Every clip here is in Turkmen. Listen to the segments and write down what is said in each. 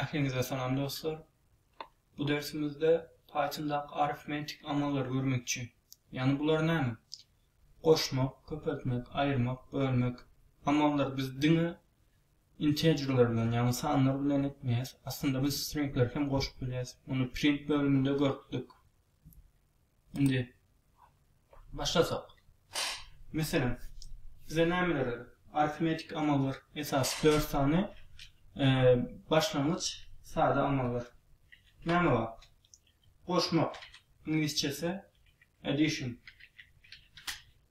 Ähliňize salam dostlar! Bu dersimizde Pythondaky arifmetik amallary görmekçi. Ýagny bular näme? Goşmak, köpeltmek, aýyrmak, bölmek amallary biz diňe integerler bilen, ýagny sanlar bilen etmeýäs. Aslynda biz stringleri hem goşup bilýäs. Muny print bölüminde görüpdik. Indi başlasak. Meselem, bize nämeler gerek? Arifmetiki amallar esasy dört sany başlangyç sada amallar. Näme bar? Goşmak, iňlisçesi addition.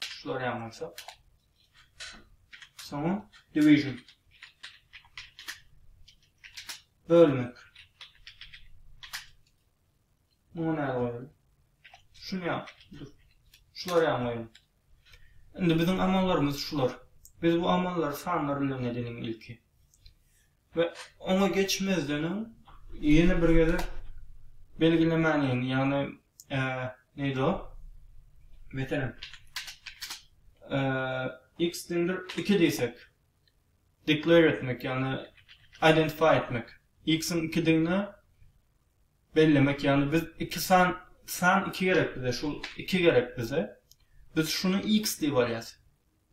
Tuşlar ýan bolsa. Soňra division. Bölmek. Muňa näme goýaly? Şuny ýan. Şular ýan goýaly. Indi biziň amallarymyz şular. Biz bu amallary sanlar bilen edeliň ilki. We oňa geçmezden öň ýene bir gezek belgilemäliň, ýagny neydi o? Meselem, x deňdir iki diýsek, declare etmek, ýagny identify etmek, x-iň ikidigini bellemek, ýagny biz iki san, san iki gerek bize, şu iki gerek bize, biz şuny x diýip alýas.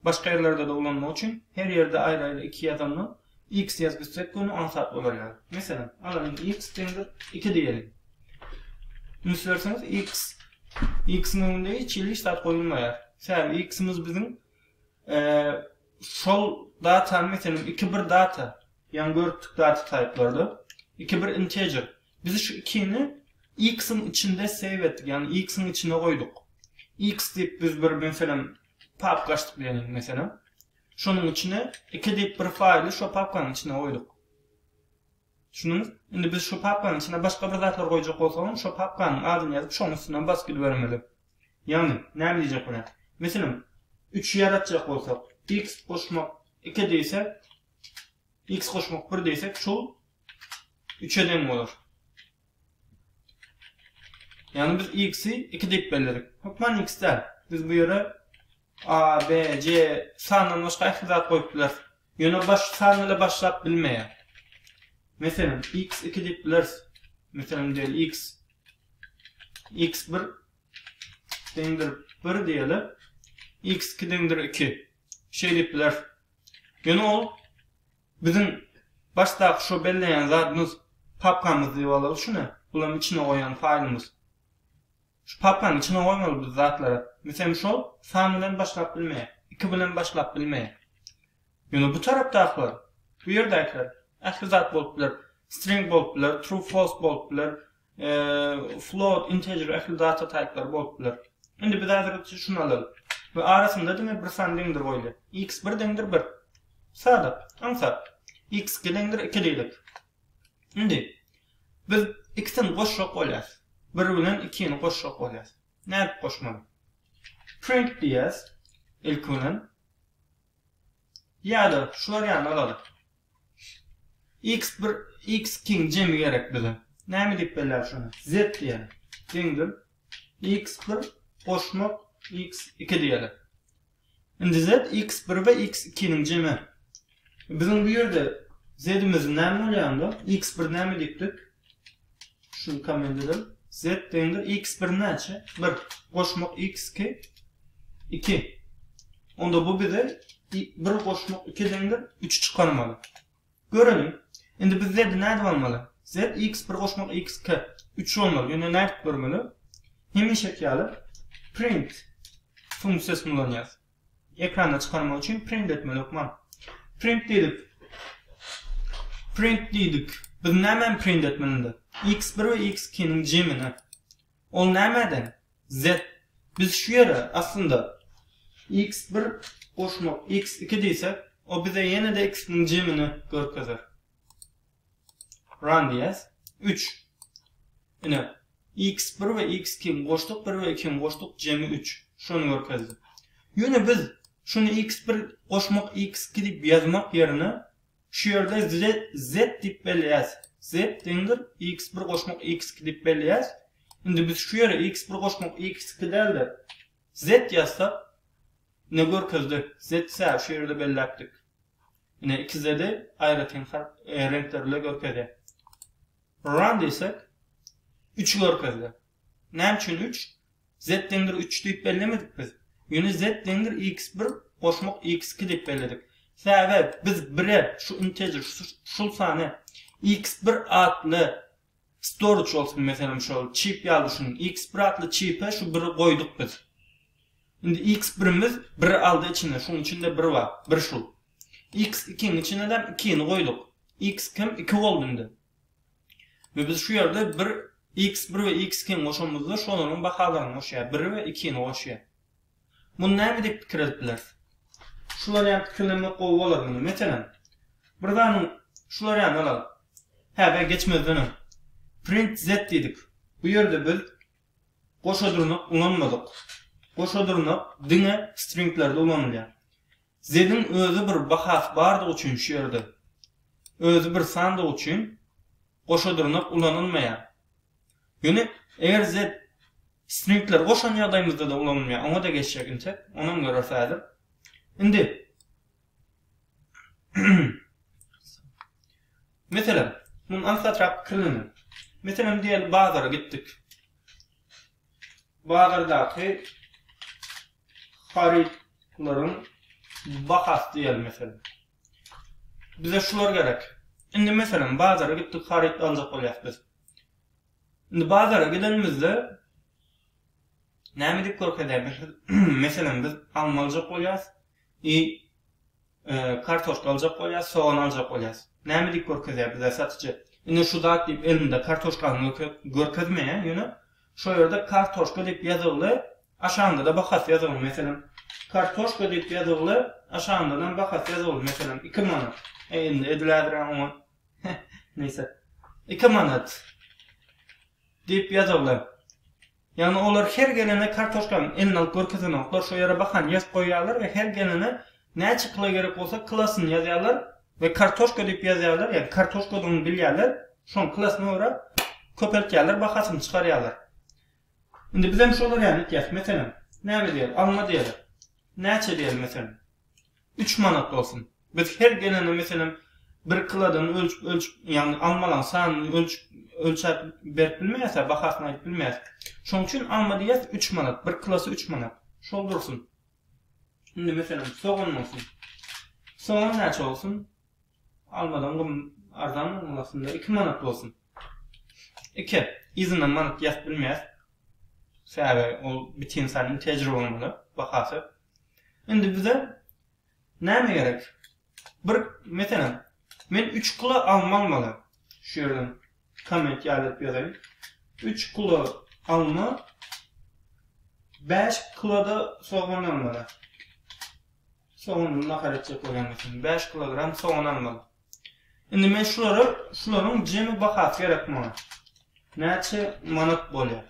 Başga ýerlerde-de ulanmak üçin her ýerde aýry-aýry iki ýazanda X ýazyp gitsek göni aňsat bolarýar. Meselem, alalyň X deňdir iki diýeliň. Üns berseňiz X, X-iň öňünde hiç hili hiç zat goýulmaýar. Sebäbi X-imiz biziň şol datany meselem iki bir data, ýaňy görüpdik data taýplarda, iki bir integer. Biz şu ikini X-iň içinde save etdik, ýagny X-iň içine goýduk. X diýip biz bir meselem papka açdyk diýelim meselem. Şonuň içine 2 diýip bir faýly şo papkanyň içine goýduk. Düşündiňiz? Indi biz şo papkanyň içine başga bir zatlar goýjak bolsagam, şo papkanyň adyny ýazyp, şoň üstünden basyp gidibermeli. Ýagny, näme diýjek bolýan? Meselem, 3 ýaratjak bolsak, x goşmak 2 diýse, x goşmak 1 diýsek, şol 3-e deň bolar. Ýagny biz x-i iki diýip belledik. Hökman x däl. Biz bu ýere a, b, c sandan başga ähli zat goýup bileris. Ýöne baş san bile başlap bilmeýär. Meselem, x iki diýip bileris. Meselem, diýeli x. x bir deňdir bir diýeli. x iki deňdir iki. Şeýdip bileris. Ýöne ol Biziň başdaky şo belleýän zadymyz papkamyz diýip alaly şuny, bulam içine goýan faýlymyz. Şu papkaň içine goýmaly biz zatlary. Misem şol san bilen başlap bilmeýär, iki bilen başlap bilmeýär. Ýöne bu tarapdakylar, bu ýerdäkiler ähli zat bolup biler, string bolup biler, true false bolup biler, float, integer ähli data taýplary bolup biler. Indi biz häzir üçi şuny alalyk we arasynda diňe bir san deňdir goýly. X bir deňdir bir. Sada, aňsat. X iki deňdir iki diýlik. Indi biz ikisini goşjak bolýas. Bir bilen ikini goşjak bolýas. Nädip goşmaly? Print diýýäs ilki bilen. Ýa-da şu warianty alalyk. X bir X kiň jemi gerek bize. Näme diýip belläli şony? Z diýeli. Deňdir. X bir goşmak X iki diýeli. Indi Z X bir we X ikiniň jemi. Biziň bu ýerde Z-imiz näme bolýar onda? X bir näme diýipdik? Şu komendeden z deňdir x bir näçe? Bir. Goşmak x iki. Iki. Onda bu bize bir goşmak iki deňdir üçi çykarmaly. Görelim. Indi biz z-i nädip almaly? Z x bir goşmak x iki. Üç olmaly. Ýöne nädip görmeli? Hemişeki ýaly print funksiýasyny ulanýarys. Ekrana çykarmak üçin print etmeli hökman. Print diýdik. Print diýdik. Biz nämäni print etmeli indi? X bir we X ikiniň jemini. Ol nämäden? Z. Biz şu ýere aslynda X bir goşmak X iki diýsek, o bize ýene-de ikisiniň jemini görkezer. Run diýýäs. Üç. Ine, x bir we x iki goşduk, bir we iki goşduk, jemi üç. Şuny görkezdi. Ýöne biz şuny x bir goşmak x iki diýip ýazmak ýerine şu ýerde z diýip belleýäs. Z deňdir x bir goşmak x iki diýip belleýäs. Indi biz şu ýere x bir goşmak x iki däl-de, z ýazsak, ine görkezdi. Z-ä şu ýerde belläpdik. Ine ikizede aýratyn reňkler bile görkezýär. Run diýsek, üçi görkezdi. Näme üçin üç? Z deňdir üç diýip bellemedik biz. Ýöne Z deňdir x bir goşmak x iki diýip belledik. Sebäbi biz bire şu integer, şul sany x bir atly Storage bolsun meselem şol çip ýaly düşüniň X bir atly çipe şu biri goýduk biz. Indi X birimiz biri aldy içine şuň içinde bir bar bir şu. X ikiň içinedem ikini goýduk. X kim iki boldy indi. We biz şu ýerde bir X bir we X ikini goşamyzda şolaryň bahalaryny goşýar biri we ikini goşýar. Muny näme diýip pikir edip bileris? Şular ýaly pikirlenmek gowy bolar muny, meselem, bir zanyň şular ýalyny alalyk. Häzir geçmezden öň Print Z diýdik. Bu ýerde biz goşa dyrnak ulanmadyk. Goşa dyrnak diňe stringlerde ulanylýar. Z-iň özi bir bahasy bardygy üçin şu ýerde, özi bir sandygy üçin goşa dyrnak ulanylmaýar. Ýöne eger Z stringleri goşan ýagdaýymyzda-da ulanylmaýar, oňa-da geçjek intek, onam göreris häzir. Indi Meselem, muny aňsatrak pikirleniň. Meselem, diýeli bazara gitdik. Bazardaky harytlaryň bahasy diýeli meselem. Bize şular gerek. Indi meselem bazara gitdik haryt aljak bolýas biz. Indi bazara gidenimizde näme diýip görkezýär meselem biz alma aljak bolýas i kartoşka aljak bolýas, sogan aljak bolýas. Näme diýip görkezýär bize satyjy? Indi şu zat diýip elinde kartoşkany görkezmeýär, ýöne Şo ýerde kartoşka diýip ýazygly, aşagynda-da bahasy ýazygly meselem. Kartoşka diýip ýazygly, aşagyndanam bahasy ýazygly meselem, iki manat. E, indi edilädir-ä oňa. Neýse. Iki manat diýip ýazygly. Ýagny olar her gelene kartoşkany eline alyp görkezenoklar, şo ýere bahany ýazyp goýýarlar we her gelene Näçe kilo gerek bolsa kilosyny ýazýarlar we kartoşka diýip ýazýarlar, ýa kartoşkadygyny bilýärler, şoň kilosyna görä köpeltýärler, bahasyny çykarýarlar. Indi bizem şolar ýaly etýäs, meselem, näme diýeli, alma diýeli, näçe diýeli meselem, üç manat bolsun, biz her gelende meselem bir kilodan ölçüp ölçüp, ýagny almalaň sanyny ölçüp ölçäp berip bilmeýäs-ä, bahasyny aýdyp bilmeýäs. Şoň üçin alma diýýäs üç manat, bir kilosy üç manat, şol dursun. Indi meselem sogan bolsun. Sogan näçe bolsun? Almadan gym arzan bolmaly aslynda. 2 manat bolsun. 2. Yzyndan manat ýazyp bilmeýäs. Sebäbi ol bitin saýyn tejribe bolmaly bahasy. Indi bize näme gerek? Bir meselem men üç kilo alma almaly. Şu ýerden komment ýaýlap ýazaýyn. Üç kilo alma, bäş kiloda sogan almaly. Sogan nahar etjek bolýan bolsam, bäş kilogram sogan almaly. Indi men şulary, şularyň jemi bahasy gerek maňa. Näçe manat bolýar?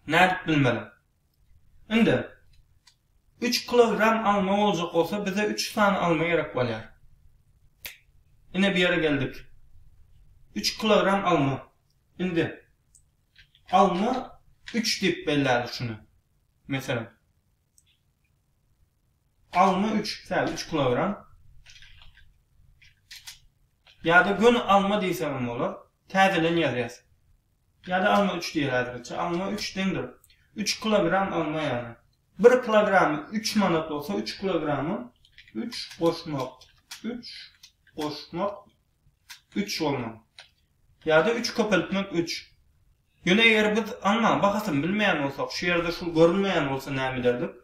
Nädip bilmeli? Indi, üç kilogram alma boljak bolsa, bize üç sany alma gerek bolýar. Ine, bu ýere geldik. Üç kilogram alma. Indi, alma üç diýip belläýeli şuny. Meselem, alma üç, säl, üç kilogram. Ýa-da göni alma diýsegem bolar. Täzelen ýazýas. Ýa-da alma üç diýer häzirlikçe. Alma üç deňdir. Üç kilogram alma ýa-da. Bir kilogramy üç manat bolsa, üç kilogramy üç goşmak, üç goşmak üç bolmaly. Ýa-da üç köpeltmek üç. Ýöne eger biz almaň bahasyny bilmeýän bolsak, şu ýerde şul görünmeýän bolsa näme ederdik?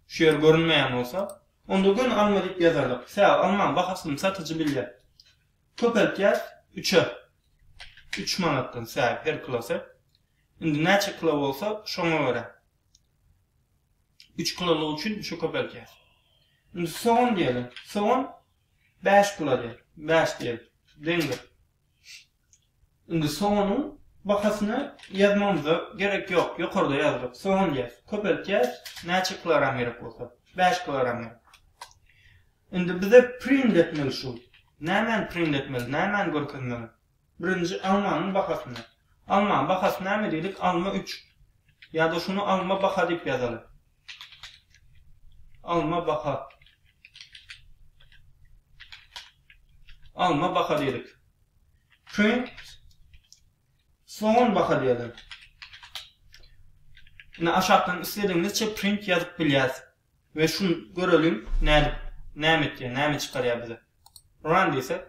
Şu ýer görünmeýän bolsa, onda göni alma diýip ýazardyk. Sebäbi almaň bahasyny satyjy bilýär. Köpeltýäs üçe. Üç manatdan sähip her kilosy. Indi näçe kilo bolsa, şoňa görä. Üç kilolygy üçin üçe köpeltýäs. Indi sogan diýeli. Sogan bäş kilo diýeli. Bäş diýeli. Deňdir. Indi soganyň bahasyny ýazmamyza gerek ýok, ýokarda ýazylyp, sogan diýýäs. Köpeltýäs, näçe kilogram gerek bolsa, bäş kilogram gerek. Indi bize print etmeli şu. Nämäni print etmeli, nämäni görkezmeli? Birinji almanyň bahasyny. Almanyň bahasy näme diýdik? Alma üç. Ýa-da şuny alma baha diýip ýazaly. Alma baka. Alma baka diýdik. Print soňun baka diýelim. Indi aşakdan isledigiňizçe print ýazyp bilýäs. Ve şun görelim näme näme etýär, näme çykarýar bize. Run diýsek.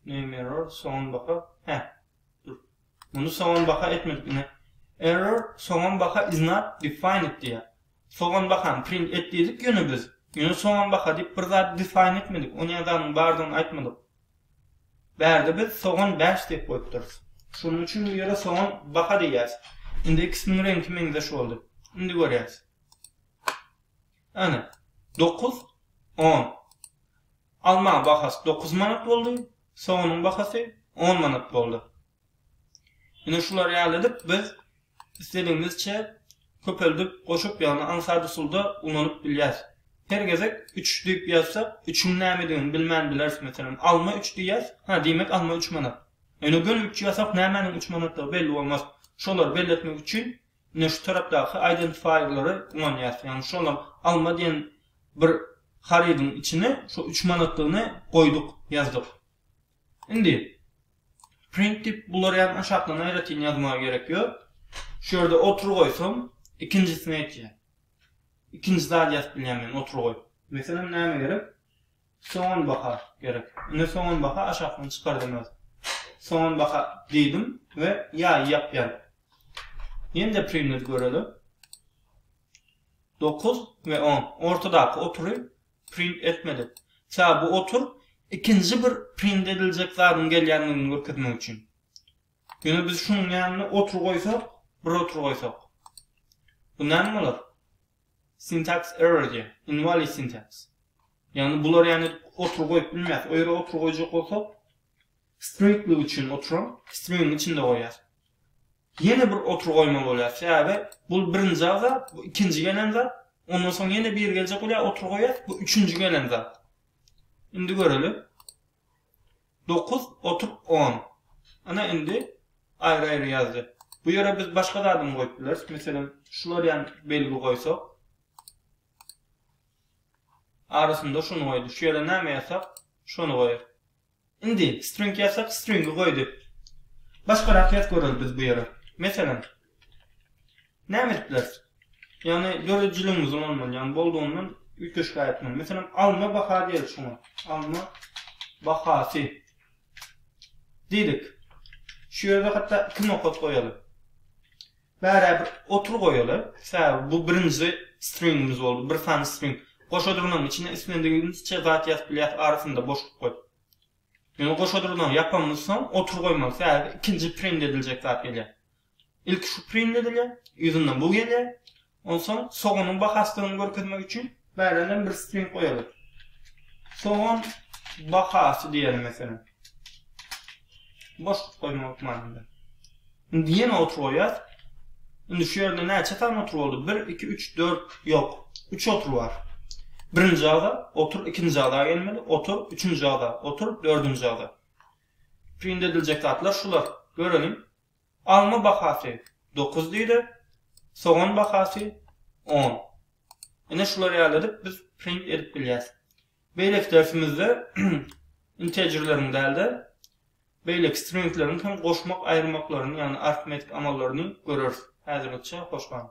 Name error, soňun baka. Hä. Muny soňam baha etmedik ine. Error soňam baha is not defined diýýär. Soňam bahany print et diýdik ýöne biz. Ýöne soňam baha diýip bir zady define etmedik. O näzanyň bardygyny aýtmadyk. Bärde biz soňam bäş diýip goýupdyrys. Şonuň üçin bu ýere soňam baha diýýäs. Indi ikisiniň reňki meňzeş boldy. Indi görýäs. Ana. Dokuz. On. Almaň bahasy dokuz manat boldy, soganyň bahasy on manat boldy. Ine şular ýaly edip biz isledigimizçe köpeldip, goşup ýagny aňsat usulda ulanyp bilýäs. Her gezek üç diýip ýazsak, üçüň nämedigini bilmän bileris. Meselem, alma üç diýýäs, hä, diýmek alma üç manat. Ýöne göni üç ýazsak nämäniň üç manatdygy belli bolmaz. Şolary belletmek üçin Ine şu tarapdaky aýdentifaýerlere guwanýas. Ýagny şolar alma diýen bir harydyň içine şu üç manatlygyny goýduk, ýazdyk. Indi print diýip bulary ýa aşakdan aýratyn ýazmaga gerek ýok. Şu ýerde otur goýsam, ikinjisini aýtýar. Ikinji zady ýazyp bilýän men otur goýup. Meselem näme gerek? Soňam baka gerek. Indi soňam baka aşakdan çykardym öz. Soňam baka diýdim we ýaýy ýapýan. Ýene-de priwnet göreli. Dokuz we on. Ortadaky otury print etmedik. Sebäbi bu otur ikinji bir print ediljek zadyň gelýändigini görkezmek üçin. Ýöne biz şunuň ýanyna otur goýsak, bir otur goýsak. Bu näme bolar? Syntax error diýýär. Invalid syntax. Ýagny bular ýany otur goýup bilmez. O ýere otur goýjak bolsak stringlik üçin oturam stringiň içinde goýýas. Ýene bir otur goýmaly bolýar. Sebäbi bu birinji agza, bu ikinji gelen zat. Ondan soň ýene bir geljek bolýar, otur goýýas, bu üçünji gelen zat. Indi göreli. Dokuz otup on. Ana indi aýry-aýry ýazdy. Bu ýere biz başga zadam goýup bileris. Meselem, şular ýaly belgi goýsak. Arasynda şuny goýdy. Şu ýere näme ýazsak, şony goýar. Indi string ýazsak, stringi goýdy. Başgarak ýazyp göreli biz bu ýere. Meselem, Näme etdiler? Ýagny döredijiligiňizi ulanmaly, ýagny boldugyny üýtgeşik aýtmaly. Meselem, alma baha diýeli şuňa. Alma bahasy diýdik. Şu ýerde hatda iki nokat goýaly. Bärä bir otur goýaly. Sebäbi bu birinji stringimiz boldy, bir sany string. Goşa durnagyň içine islendigiňizçe zat ýazyp bilýäs, arasynda boşluk goýup. Ýöne goşa durnagy ýapamyzsoň otur goýmaly, sebäbi ikinji print ediljek zat gelýär. Ilki şu print edilýär, yzyndan bu gelýär. Onsoň soganyň bahasydygyny görkezmek üçin bärenden bir string goýarys. Sogan bahasy diýeli meselem. Boşluk goýma hökmany. Indi ýene otur goýýas. Indi şu ýerde näçe sany otur boldy? 1, 2, 3, 4, ýok. 3 otur bar. Birinji ada otur, ikinji ada gelmeli, otur, üçünji ada, otur, dördünji ada. Print ediljek zatlar şular. Göreliň. Alma bahasy dokuz lira, sogan bahasy on. Ine şular ýaly edip biz print edip bilýäs. Beýleki dersimizde integerleriň däl-de, beýleki stringleriň hem goşmak-aýyrmaklaryny, ýagny arifmetik amallaryny göreris. Häzirlikçe hoş galyň!